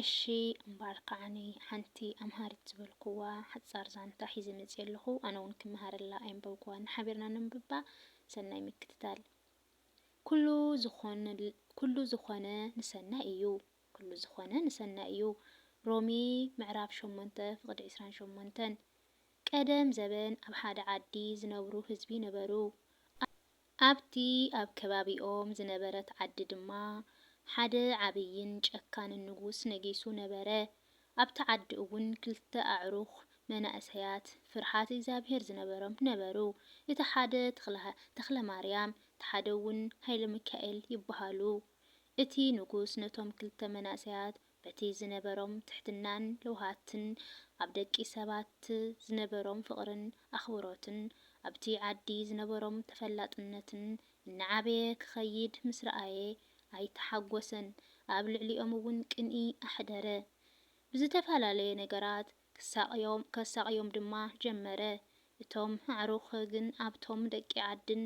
እሺ እምባኣር ካዓኒ ሓንቲ ኣምሃሪት ዝበልኩዋ ሓጻር ዛንታ ሒዘ መጺኤ ኣለኹ ኣነ ውን ክመሃረላ ኣየንበብኩዋን ሓቢርና ነንብባ ሰናይ ምክትታል ኩሉ ዝኾነ ኩሉ ዝኾነ ንሰናይ እዩ ኩሉ ዝኾነ ንሰናይ እዩ ሮሜ ምዕራፍ ሸሞንተ ፍቅዲ ዕስራን ሸሞንተን ቀደም ዘበን ኣብ ሓደ ዓዲ ዝነብሩ ህዝቢ ነበሩ ኣብቲ ኣብ ከባቢኦም ዝነበረት ዓዲ ድማ ሓደ ዓብይን ጨካንን ንጉስ ነጊሱ ነበረ። ኣብቲ ዓዲ እውን ክልተ ኣዕሩኽ መናእሰያት ፍርሓት እግዚኣብሄር ዝነበሮም ነበሩ። እቲ ሓደ ተኽለማርያም እቲ ሓደ እውን ሃይለሚካኤል ይበሃሉ። እቲ ንጉስ ነቶም ክልተ መናእሰያት በቲ ዝነበሮም ትሕትናን ለውሃትን ኣብ ደቂ ሰባት ዝነበሮም ፍቕርን ኣኽብሮትን ኣብቲ ዓዲ ዝነበሮም ተፈላጥነትን እናዓበየ ክኸይድ ምስ ረኣየ ኣይተሓጎሰን ኣብ ልዕሊኦም'ውን ቅንኢ ኣሕደረ ብዝተፈላለየ ነገራት ክሳቕዮም ከሳቕዮም ድማ ጀመረ። እቶም ኣዕሩኽ ግን ኣብቶም ደቂ ዓድን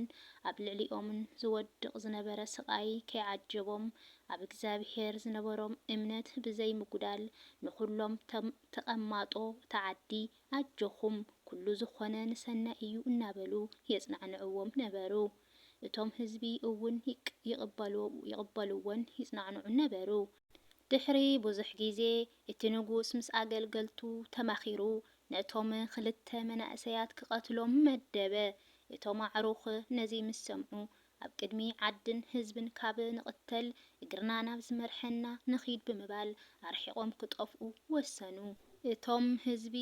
ኣብ ልዕሊኦምን ዝወድቕ ዝነበረ ስቓይ ከይዓጀቦም፣ ኣብ እግዚኣብሄር ዝነበሮም እምነት ብዘይምጉዳል ንኹሎም ቶም ተቐማጦ እታ ዓዲ ኣጆኹም ኩሉ ዝኾነ ንሰናይ እዩ እናበሉ የጽናዕንዕዎም ነበሩ። እቶም ህዝቢ እውን ይቕበልዎን ይጽናዕንዑን ነበሩ። ድሕሪ ብዙሕ ግዜ፣ እቲ ንጉስ ምስ ኣገልገልቱ ተማኺሩ ነቶም ኽልተ መናእሰያት ክቐትሎም መደበ። እቶም ኣዕሩኽ ነዚ ምስ ሰምዑ፣ ኣብ ቅድሚ ዓድን ህዝብን ካብ ንቕተል፣ እግርና ናብ ዝመርሐና ንኺድ ብምባል ኣርሒቖም ክጠፍኡ ወሰኑ። እቶም ህዝቢ፣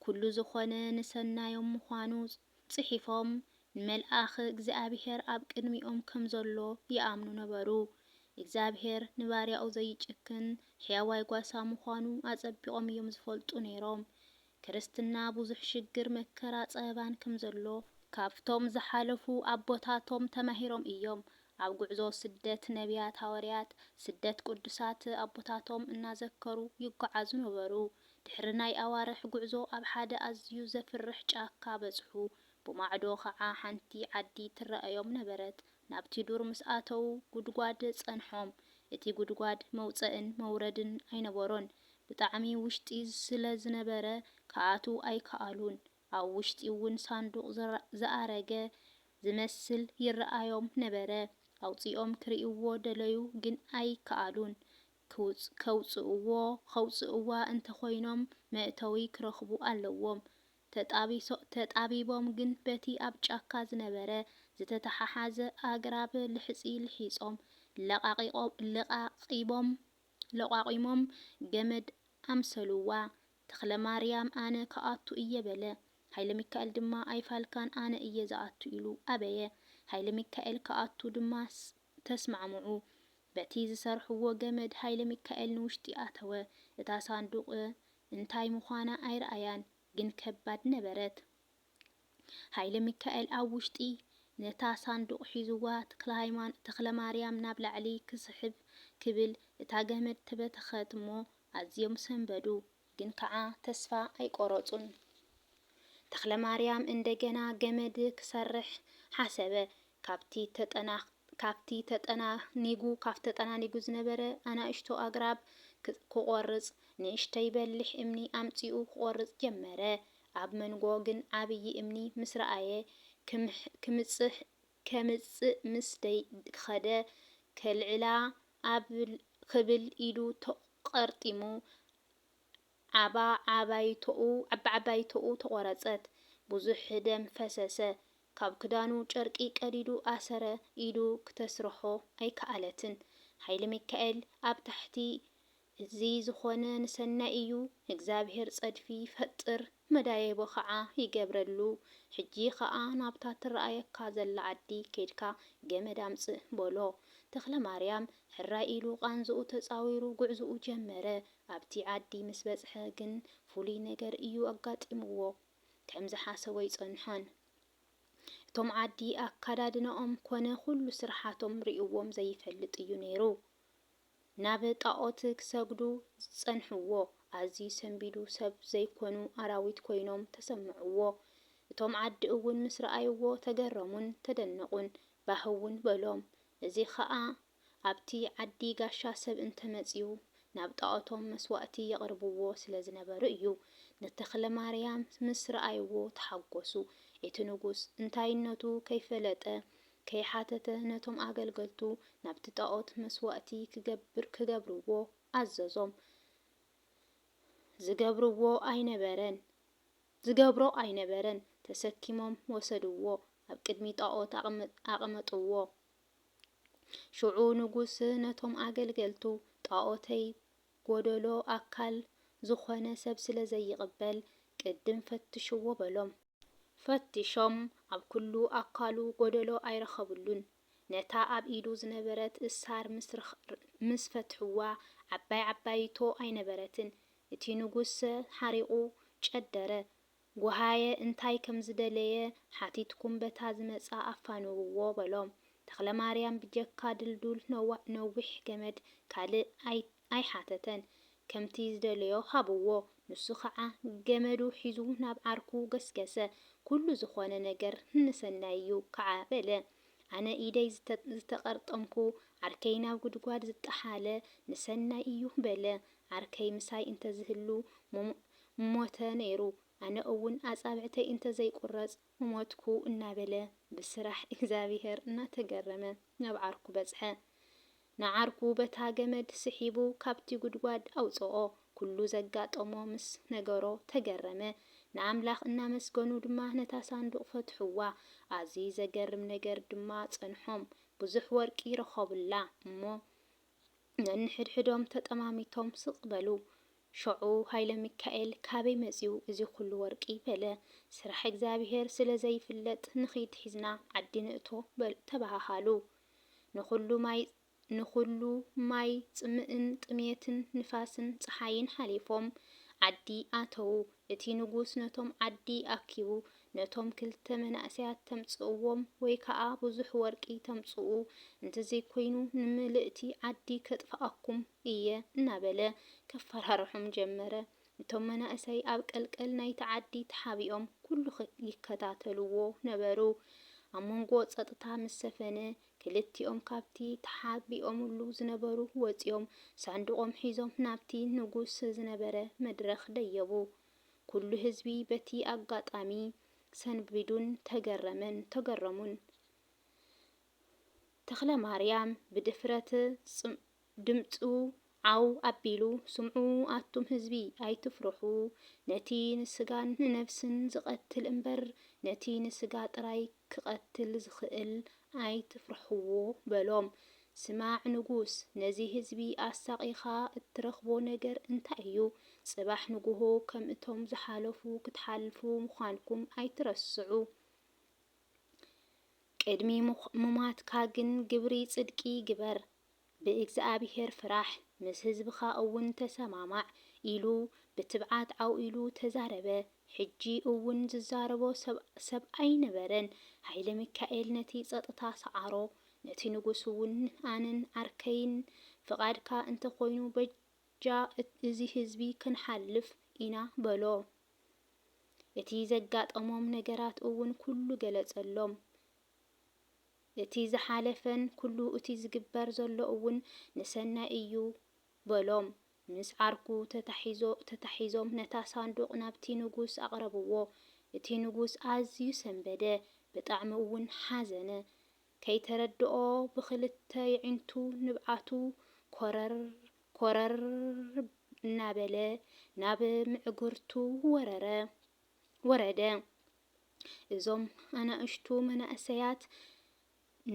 ኵሉ ዝዀነ ንሰናዮም ምዃኑ ጽሒፎም፣ ንመልኣኽ እግዚኣብሄር ኣብ ቅድሚኦም ከም ዘሎ ይኣምኑ ነበሩ። እግዚኣብሄር ንባርያኡ ዘይጭክን ሕያዋይ ጓሳ ምዃኑ ኣጸቢቖም እዮም ዝፈልጡ ነይሮም። ክርስትና ብዙሕ ሽግር፣ መከራ፣ ጸበባን ከም ዘሎ። ካብቶም ዝሓለፉ ኣቦታቶም ተማሂሮም እዮም። ኣብ ጉዕዞ ስደት ነብያት ሃወርያት፣ ስደት ቅዱሳት ኣቦታቶም እናዘከሩ ይጎዓዙ ነበሩ። ድሕሪ ናይ ኣዋርሕ ጉዕዞ ኣብ ሓደ ኣዝዩ ዘፍርሕ ጫካ በጽሑ። ብማዕዶ ኸዓ ሓንቲ ዓዲ ትረኣዮም ነበረት። ናብቲ ዱር ምስ ኣተዉ ጉድጓድ ጸንሖም። እቲ ጉድጓድ መውጸእን መውረድን ኣይነበሮን። ብጣዕሚ ውሽጢ ስለ ዝነበረ ክኣትዉ ኣይከኣሉን። ኣብ ውሽጢ'ውን ሳንዱቕ ዝኣረገ ዝመስል ይረኣዮም ነበረ። ኣውጺኦም ክርእይዎ ደለዩ ግን ኣይከኣሉን። ከውጽእዎ ከውጽእዋ እንተኾይኖም መእተዊ ክረኽቡ ኣለዎም። ተጣቢቦም ግን በቲ ኣብ ጫካ ዝነበረ ዝተተሓሓዘ ኣግራብ ልሕጺ ልሒጾም ለቓቒቦም ለቋቒሞም ገመድ ኣምሰሉዋ። ተኽለማርያም ኣነ ክኣቱ እየ በለ። ሃይለሚካኤል ድማ ኣይፋልካን ኣነ እየ ዝኣቱ ኢሉ ኣበየ። ሃይለሚካኤል ክኣቱ ድማ ተስማዕምዑ። በቲ ዝሰርሕዎ ገመድ ሃይለሚካኤል ንውሽጢ ኣተወ። እታ ሳንዱቕ እንታይ ምዃና ኣይረኣያን፣ ግን ከባድ ነበረት። ሃይለሚካኤል ኣብ ውሽጢ ነታ ሳንዱቕ ሒዙዋ ተኽለማርያም ናብ ላዕሊ ክስሕብ ክብል እታ ገመድ ተበተኸት'ሞ ኣዝዮም ሰንበዱ። ግን ከዓ ተስፋ ኣይቆረፁን። ተክለማርያም እንደገና ገመድ ክሰርሕ ሓሰበ። ካብቲ ተጠናኒጉ ዝነበረ ኣናእሽቱ ኣግራብ ክቆርፅ ንእሽተይ በሊሕ እምኒ ኣምፂኡ ክቆርፅ ጀመረ። ኣብ መንጎ ግን ዓብዪ እምኒ ምስ ረኣየ ከምጽእ ምስ ከደ ከልዕላ ኣብ ክብል ኢዱ ተቐርጢሙ ዓባዓባይቶኡ ተቖረጸት። ብዙሕ ደም ፈሰሰ። ካብ ክዳኑ ጨርቂ ቀዲዱ ኣሰረ። ኢዱ ክተስርሖ ኣይከኣለትን። ሃይለሚካኤል ኣብ ታሕቲ እዚ ዝኾነ ንሰናይ እዩ እግዚኣብሄር ጸድፊ ይፈጥር መዳየቦ ኸዓ ይገብረሉ ሕጂ ኸኣ ናብታ ትረኣየካ ዘላ ዓዲ ኬድካ ገመድ ኣምጽእ በሎ ተኽለማርያም ሕራይ ኢሉ ቃንዝኡ ተጻዊሩ ጉዕዝኡ ጀመረ ኣብቲ ዓዲ ምስ በጽሐ ግን ፍሉይ ነገር እዩ ኣጋጢምዎ ከም ዝሓሰቦ ኣይጸንሖን እቶም ዓዲ ኣካዳድነኦም ኮነ ኩሉ ስርሓቶም ሪእዎም ዘይፈልጥ እዩ ነይሩ ናብ ጣኦት ክሰግዱ ዝጸንሕዎ ኣዝዩ ሰንቢዱ ሰብ ዘይኮኑ ኣራዊት ኮይኖም ተሰምዕዎ እቶም ዓዲ እውን ምስ ረኣይዎ ተገረሙን ተደነቁን ባህ እውን በሎም እዚ ከኣ ኣብቲ ዓዲ ጋሻ ሰብ እንተመጽዩ ናብ ጣኦቶም መስዋእቲ የቅርብዎ ስለ ዝነበሩ እዩ ንተክለማርያም ምስ ረኣይዎ ተሓጎሱ እቲ ንጉስ እንታይነቱ ከይፈለጠ ከይሓተተ ነቶም ኣገልገልቱ ናብቲ ጣኦት መስዋእቲ ክገብር ክገብርዎ ኣዘዞም። ዝገብርዎ ኣይነበረን ዝገብሮ ኣይነበረን ተሰኪሞም ወሰድዎ ኣብ ቅድሚ ጣኦት ኣቐመጥዎ። ሽዑ ንጉስ ነቶም ኣገልገልቱ ጣኦተይ ጎደሎ ኣካል ዝኾነ ሰብ ስለዘይቕበል ቅድም ፈትሽዎ በሎም። ፈቲሾም ኣብ ኩሉ ኣካሉ ጎደሎ ኣይረኸብሉን። ነታ ኣብ ኢዱ ዝነበረት እሳር ምስ ፈትሕዋ ዓባይ ዓባይቶ ኣይነበረትን። እቲ ንጉስሰ ሓሪቑ ጨደረ። ጎሃየ እንታይ ከም ዝደለየ ሓቲትኩም በታ ዝመጽኣ ኣፋንውዎ በሎም። ተኽለማርያም ብጀካ ድልዱል ነዊሕ ገመድ ካልእ ኣይሓተተን ከምቲ ዝደለዮ ሃብዎ ንሱ ኸዓ ገመዱ ሒዙ ናብ ዓርኩ ገስገሰ ኩሉ ዝኾነ ነገር ንሰናይ እዩ ከዓ በለ ኣነ ኢደይ ዝተቀርጠምኩ ዓርከይ ናብ ጉድጓድ ዝጠሓለ ንሰናይ እዩ በለ ዓርከይ ምሳይ እንተዝህሉ ምሞተ ነይሩ ኣነ እውን ኣፃብዕተይ እንተዘይቁረፅ ምሞትኩ እናበለ ብስራሕ እግዚኣብሔር እናተገረመ ናብ ዓርኩ በፅሐ ንዓርኩ በታ ገመድ ስሒቡ ካብቲ ጉድጓድ ኣውጽኦ። ኩሉ ዘጋጠሞ ምስ ነገሮ ተገረመ። ንኣምላኽ እናመስገኑ ድማ ነታ ሳንዱቕ ፈትሑዋ። ኣዝዪ ዘገርም ነገር ድማ ጸንሖም። ብዙሕ ወርቂ ረኸቡላ እሞ ነንሕድሕዶም ተጠማሚቶም ስቕ በሉ። ሸዑ ሃይለሚካኤል ካበይ መጺኡ እዚ ኩሉ ወርቂ? በለ። ስራሕ እግዚኣብሄር ስለ ዘይፍለጥ ንኺድ ሒዝና ዓዲ ንእቶ ተበሃሃሉ። ንኹሉ ማይ ንኹሉ ማይ ጽምእን ጥሜትን ንፋስን ጸሓይን ሓሊፎም ዓዲ ኣተዉ። እቲ ንጉስ ነቶም ዓዲ ኣኪቡ ነቶም ክልተ መናእሰያት ተምጽእዎም ወይ ከኣ ብዙሕ ወርቂ ተምጽኡ እንተዘይኮይኑ ንምልእቲ ዓዲ ከጥፍኣኩም እየ እናበለ ከፈራርሖም ጀመረ። እቶም መናእሰይ ኣብ ቀልቀል ናይቲ ዓዲ ተሓቢኦም ኩሉ ይከታተልዎ ነበሩ። ኣብ መንጎ ጸጥታ ምስ ሰፈነ፣ ክልቲኦም ካብቲ ተሓቢኦምሉ ዝነበሩ ወጺኦም፣ ሳንዱቖም ሒዞም ናብቲ ንጉስ ዝነበረ መድረኽ ደየቡ። ኩሉ ህዝቢ በቲ ኣጋጣሚ ሰንቢዱን ተገረመን ተገረሙን። ተኽለማርያም ብድፍረት ድምጹ ዓው ኣቢሉ ስምዑ ኣቱም ህዝቢ ኣይትፍርሑ ነቲ ንስጋን ንነብስን ዝቀትል እምበር ነቲ ንስጋ ጥራይ ክቀትል ዝኽእል ኣይትፍርሕዎ በሎም ስማዕ ንጉስ ነዚ ህዝቢ ኣሳቂኻ እትረኽቦ ነገር እንታይ እዩ ጽባሕ ንጉሆ ከም እቶም ዝሓለፉ ክትሓልፉ ምዃንኩም ኣይትረስዑ ቅድሚ ምሟትካ ግን ግብሪ ጽድቂ ግበር ብእግዚኣብሄር ፍራሕ፣ ምስ ህዝብኻ እውን ተሰማማዕ፣ ኢሉ ብትብዓት ዓው ኢሉ ተዛረበ። ሕጂ እውን ዝዛረቦ ሰብ ኣይነበረን። ሃይለሚካኤል ነቲ ጸጥታ ሰዓሮ። ነቲ ንጉስ እውን፣ ኣነን ዓርከይን ፍቓድካ እንተ ኾይኑ፣ በጃ እዚ ህዝቢ ክንሓልፍ ኢና፣ በሎ። እቲ ዘጋጠሞም ነገራት እውን ኩሉ ገለጸሎም። እቲ ዝሓለፈን ኩሉ እቲ ዝግበር ዘሎ እውን ንሰናይ እዩ በሎም። ምስ ዓርኩ ተታሒዞ ተታሒዞም ነታ ሳንዱቕ ናብቲ ንጉስ ኣቕረብዎ። እቲ ንጉስ ኣዝዩ ሰንበደ፣ ብጣዕሚ እውን ሓዘነ። ከይተረድኦ ብኽልተ የዒንቱ ንብዓቱ ኮረር ኮረር እናበለ ናብ ምዕግርቱ ወረረ ወረደ። እዞም ኣናእሽቱ መናእሰያት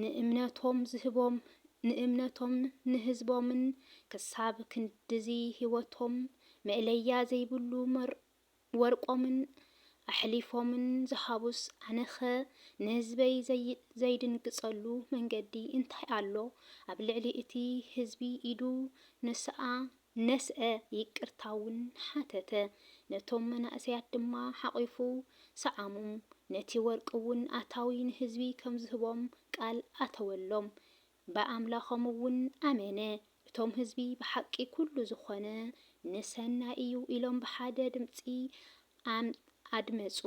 ንእምነቶም ዝህቦም ንእምነቶም ንህዝቦምን ክሳብ ክንድዚ ህይወቶም መእለያ ዘይብሉ ወርቆምን ኣሕሊፎምን ዝሃቡስ ኣነኸ ንህዝበይ ዘይድንግጸሉ መንገዲ እንታይ ኣሎ ኣብ ልዕሊ እቲ ህዝቢ ኢዱ ንስኣ ነስዐ፣ ይቅርታ እውን ሓተተ። ነቶም መናእሰያት ድማ ሓቚፉ ሰዓሞም፣ ነቲ ወርቂ እውን ኣታዊ ንህዝቢ ከም ዝህቦም ቃል ኣተወሎም። ብኣምላኾም እውን ኣመነ። እቶም ህዝቢ ብሓቂ ኩሉ ዝኾነ ንሰናይ እዩ ኢሎም ብሓደ ድምጺ ኣም ኣድመጹ፣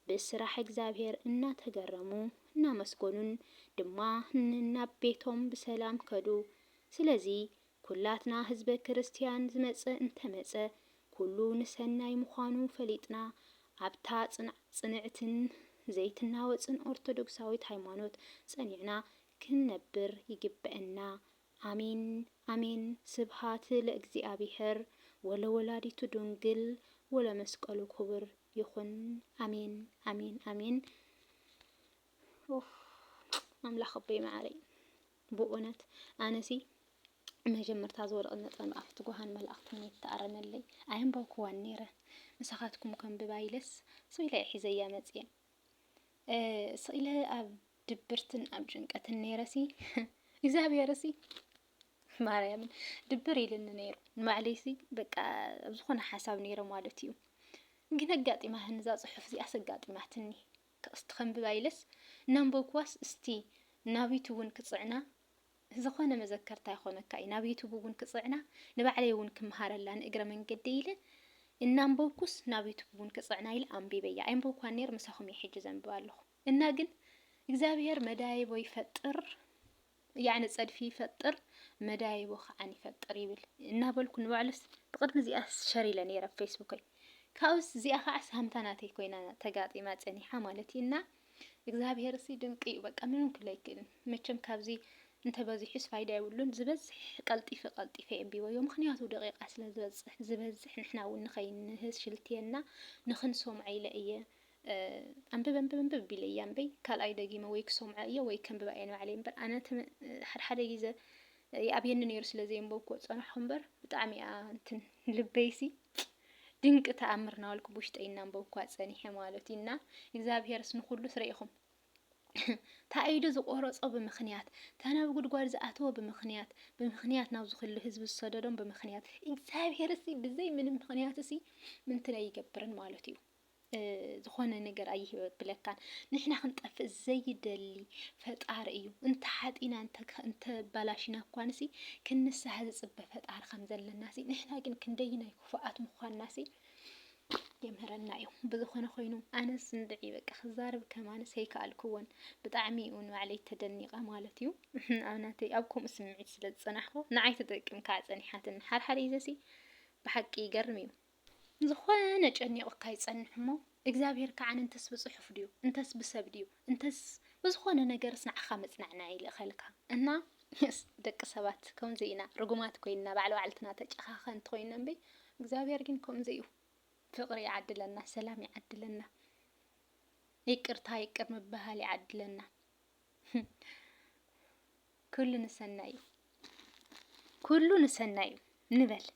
ብስራሕ እግዚኣብሔር እናተገረሙ እናመስገኑን ድማ ንናብ ቤቶም ብሰላም ከዱ። ስለዚ ኩላትና ህዝበ ክርስትያን ዝመጸ እንተመጸ ኩሉ ንሰናይ ምዃኑ ፈሊጥና ኣብታ ጽንዕትን ዘይትናወጽን ኦርቶዶክሳዊት ሃይማኖት ጸኒዕና ክንነብር ይግበእና ኣሜን ኣሜን ስብሃት ለእግዚኣብሄር ወለወላዲቱ ዱንግል ወለመስቀሉ ኩቡር ይኹን ኣሜን ኣሜን ኣሜን ኡፍ ኣምላኽ ኣቦይ መዓረይ። ብኡነት ኣነሲ መጀመርታ ዝወደቐት ነጥበ መዓፍቲ ጓሃን መላእኽቲ መን ይተኣረመለይ ኣየንበብኩዋን ነይረ ምሳኻትኩም ከንብባ ኢለስ ስቕ ኢለ እየ ሒዘያ መፅየ ስቕ ኢለ ኣብ ድብርትን ኣብ ጭንቀትን ነይረሲ እግዚኣብሄርሲ ማርያምን ድብር ኢልኒ ነይሩ ንባዕለይሲ በቃ ኣብ ዝኾነ ሓሳብ ነይረ ማለት እዩ ግን ኣጋጢማ ህንዛ ፅሑፍ እዚኣስ ኣጋጢማትኒ ጥቕሲ ተኸንብባ ኢለስ እናንበብኩዋስ እስቲ ናብ ዩቱብ እውን ክፅዕና ዝኾነ መዘከርታ ይኾነካ እዩ ናብ ዩቱብ እውን ክፅዕና ንባዕለይ እውን ክምሃረላ ንእግረ መንገደይ ኢለ እናንበብኩስ ናብ ዩቱብ እውን ክፅዕና ኢለ ኣንቢበያ ኣይንበብኳን ነይር ምሳኹም እየ ሕጂ ዘንብባ ኣለኹ እና ግን እግዚኣብሄር መዳይቦ ይፈጥር ያዕኒ ጸድፊ ይፈጥር መዳይቦ ከዓን ይፈጥር ይብል እናበልኩ ንባዕሉስ ብቕድሚ እዚኣስ ሸር ኢለ ነይረ ፌስቡከይ ካብኡስ እዚኣ ከዓ ሳምታ ናተይ ኮይና ተጋጢማ ጸኒሓ ማለት እዩ እና እግዚኣብሄር ሲ ድንቂ እዩ በቃ ምንም ክለ ኣይክእልን መቸም ካብዚ እንተበዚሑስ ፋይዳ የብሉን ዝበዝሕ ቀልጢፈ ቀልጢፈ የንቢበዮ ምክንያቱ ደቂቃ ስለ ዝበዝሕ ዝበዝሕ ንሕና እውን ንኸይንህስ ሽልትየና ንክንሰምዖ ኢለ እየ ኣንብብ ኣንብብ ኣንብብ ቢለያ እምበይ ካልኣይ ደጊመ ወይ ክሰምዖ እየ ወይ ከንብባ እየ ንባዕለይ እምበር ኣነ ሓድሓደ ግዘ ይኣብየኒ ነይሩ ስለ ዘየንበብኩ ፀናሕኩ እምበር ብጣዕሚ እያ እንትን ልበይሲ ድንቂ ተኣምር ናበልኩ ብውሽጠይ እናንበብኳ ፀኒሐ ማለት እዩ እና እግዚኣብሄርስ ንኩሉ ስረኢኹም ታኢዱ ዝቆረጾ ብምክንያት ተናብ ጉድጓድ ዝኣተወ ብምክንያት ብምክንያት ናብዚ ኩሉ ህዝቢ ዝሰደዶም ብምክንያት እግዚኣብሄር ሲ ብዘይ ምንም ምክንያት ሲ ምንትን ኣይገብርን ማለት እዩ ዝኾነ ነገር ኣይብለካን። ንሕና ክንጠፍእ ዘይደሊ ፈጣሪ እዩ። እንተ ሓጢና እንተ ባላሽና እኳንሲ ክንሳህ ዝፅበ ፈጣሪ ከም ዘለናሲ ንሕና ግን ክንደይናይ ክፉኣት ምኳንናሲ የምህረና እዩ ብዝኾነ ኮይኑ ኣነስ እንድዒ በቃ ክዛረብ ከማንስ ኣይከኣልክዎን ብጣዕሚ እውን ባዕለይ ተደኒቐ ማለት እዩ ኣብ ናተይ ኣብ ከምኡ ስምዒት ስለ ዝፀናሕኩ ንዓይ ትጠቅም ከዓ ፀኒሓትን ሓርሓር ይዘሲ ብሓቂ ይገርም እዩ ንዝኾነ ጨኒቑካ ይጸንሕ እሞ እግዚኣብሄር ከኣ እንተስ ብጽሑፍ ድዩ እንተስ ብሰብ ድዩ እንተስ ብዝኾነ ነገርስ ንዓኻ መጽናዕናዒ ይልእኸልካ እና የስ ደቂ ሰባት ከምዚ ኢና ርጉማት ኮይንና ባዕለ ባዕልትና ተጨኻኸንቲ ኮይንና እምበይ እግዚኣብሄር ግን ከምኡ ዘይኡ ፍቕሪ ይዓድለና ሰላም ይዓድለና ይቅርታ ይቅር ምብሃል ይዓድለና ኩሉ ንሰናይ እዩ ኩሉ ንሰናይ እዩ ንበል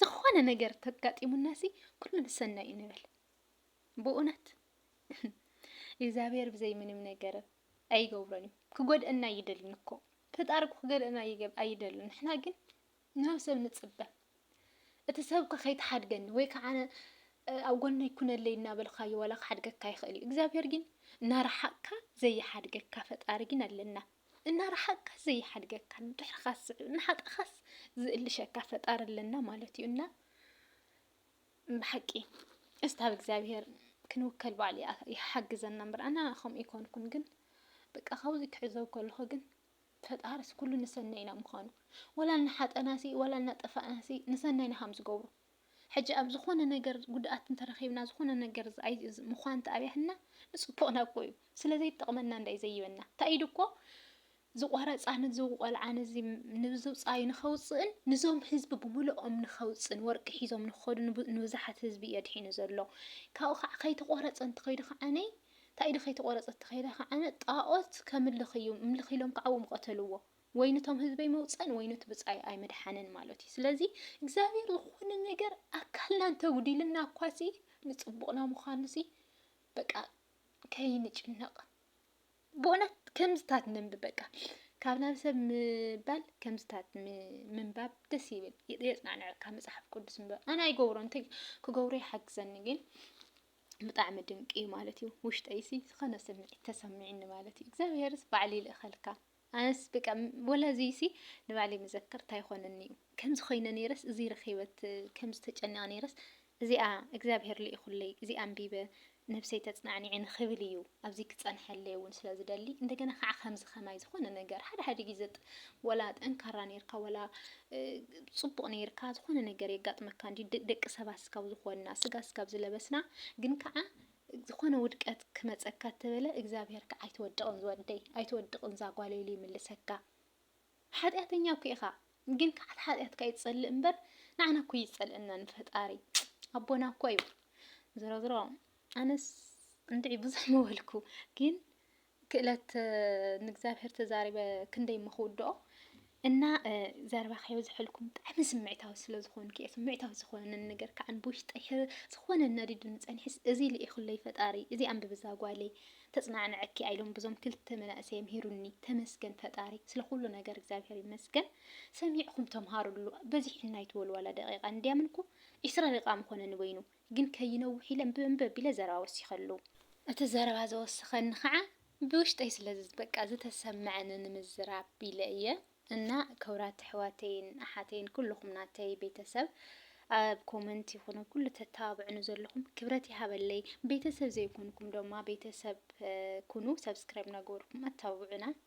ዝኾነ ነገር ተጋጢሙናሲ ኩሉ ንሰናይ እዩ ንብል ብእውነት እግዚኣብሔር ብዘይ ምንም ነገር ኣይገብሮን እዩ ክጎድአና ኣይደልን እኮ ፈጣሪ እኮ ክገድአና ኣይደልን ንሕና ግን ናብ ሰብ ንፅበ እቲ ሰብ እኳ ከይተሓድገኒ ወይ ከዓ ኣብ ጎና ይኩነለይ እናበልካዮ ዋላ ክሓድገካ ይኽእል እዩ እግዚኣብሔር ግን እናረሓቅካ ዘይሓድገካ ፈጣሪ ግን ኣለና እናረሓቅካ ዘይሓድገካ ንድሕርኻ ዝስዕብ እናሓቀኻስ ዝእልሸካ ፈጣሪ ኣለና ማለት እዩ እና ብሓቂ እስቲ ኣብ እግዚኣብሄር ክንውከል ባዕሉ ይሓግዘና እምበር ኣና ከምኡ ይኮንኩን ግን በቃ ካብዚ ክዕዘብ ከለኹ ግን ፈጣርስ ኩሉ ንሰናይ ኢና ምዃኑ ወላ እናሓጠናሲ ወላ እናጠፋእናሲ ንሰናይና ከም ዝገብሩ ሕጂ ኣብ ዝኾነ ነገር ጉድኣት እንተረኺብና ዝኾነ ነገር ምዃን እንተኣብያህና ንጽቡቕና እኮ እዩ ስለ ዘይጠቕመና እንዳይ ዘይበና እንታይ ኢሉ እኮ ዝቖረጻ ንዚ ቆልዓ ንዚ ንብዝውጻዩ ንኸውጽእን ንዞም ህዝቢ ብምልኦም ንኸውጽእን ወርቂ ሒዞም ንኸዱ ንብዙሓት ህዝቢ እዩ ኣድሒኑ ዘሎ ካብኡ ከዓ ከይተቖረጸ እንተኸይዱ ከዓኒ እንታይ ኢሉ ከይተቖረጸ እንተኸይደ ከዓኒ ጣኦት ከምልኽ እዩ ምልኽ ኢሎም ከዓኡ ምቐተልዎ ወይ ንቶም ህዝበይ መውጸእን ወይ ኑቲ ብጻይ ኣይምድሓንን ማለቱ እዩ ስለዚ እግዚኣብሔር ዝኾነ ነገር ኣካልና እንተጉዲልና እኳሲ ንጽቡቕና ምዃኑሲ በቃ ከይንጭነቕ ብእውነት ከምዝታት ነንብ በቃ ካብ ናብ ሰብ ምባል ከምዝታት ምንባብ ደስ ይብል የጽናንዐካ መጽሓፍ ቅዱስ ምንባብ ኣነ ኣይገብሮ እንተ ክገብሮ ይሓግዘኒ ግን ብጣዕሚ ድንቂ እዩ ማለት እዩ ውሽጠይሲ ዝኾነ ስምዒት ተሰሚዕኒ ማለት እዩ እግዚኣብሔርስ ባዕሉ ይልእኸልካ ኣነስ በቃ ወላ እዚሲ ንባዕለይ መዘከርታ ይኾነኒ እዩ ከምዚ ኮይነ ነይረስ እዚ ረኺበት ከምዚ ተጨኒቐ ነይረስ እዚኣ እግዚኣብሄር ልኢኹለይ እዚኣ ኣንቢበ ነብሰይ ተጽናዕኒዐ ንኽብል እዩ ኣብዚ ክጸንሐለይ እውን ስለ ዝደሊ እንደገና ከዓ ከምዚ ከማይ ዝኾነ ነገር ሓደ ሓደ ግዜ ወላ ጠንካራ ነይርካ ወላ ጽቡቕ ነይርካ ዝኾነ ነገር የጋጥመካ እንዲ ደቂ ሰባት ስጋብ ዝኾንና ስጋ ስጋብ ዝለበስና ግን ከዓ ዝኾነ ውድቀት ክመጸካ እተበለ እግዚኣብሄር ከኣ ኣይትወድቕን ዝወደይ ኣይትወድቕን ዛጓለይ ኢሉ ይምልሰካ ሓጥያተኛ እኮ ኢኻ ግን ከኣ እቲ ሓጥያትካ እዩ ዝጸልእ እምበር ንዓና እኮ ኣይጸልእናን ንፈጣሪ ኣቦና እኮ እዩ ዝሮዝሮ ኣነስ እንድዒ ብዙሕ ምበልኩ ግን ክእለት ንእግዚኣብሔር ተዛሪበ ክንደይ እሞ ክውድኦ እና ዘረባ ከየብዝሐልኩም ብጣዕሚ ስምዒታዊ ስለ ዝኾንኩ እየ ስምዒታዊ ዝኾነ ነገር ከዓ ብውሽጠይ ሕር ዝኾነ ነዲዱኒ ፀኒሕስ እዚ ልኢኹለይ ፈጣሪ እዚ ኣንብቢ እዛ ጓለይ ተፅናዕነዐኪ ኣይሎም ብዞም ክልተ መናእሰይ የምሂሩኒ ተመስገን ፈጣሪ ስለ ኩሉ ነገር እግዚኣብሔር ይመስገን ሰሚዕኹም ተምሃሩሉ በዚሕና ይትበሉ ዋላ ደቂቃ እንዲያምንኩ ዒስራ ደቂቃ ምኾነኒ በይኑ ግን ከይነውሕ ኢለ እንብእንብ ኣቢለ ዘረባ ወሲኸሉ። እቲ ዘረባ ዘወሰኸኒ ኸዓ ብውሽጠይ ስለ በቃ ዝተሰመዐኒ ንምዝራብ ኢለ እየ። እና ክብራት ኣሕዋተይን ኣሓተይን ኩሉኹም ናተይ ቤተሰብ ኣብ ኮመንት ይኹን ኣብ ኩሉ ተተባብዑኒ ዘለኹም ክብረት ይሃበለይ። ቤተሰብ ዘይኮንኩም ደማ ቤተሰብ ኩኑ ሰብስክራይብ እናገበርኩም ኣተባብዑና።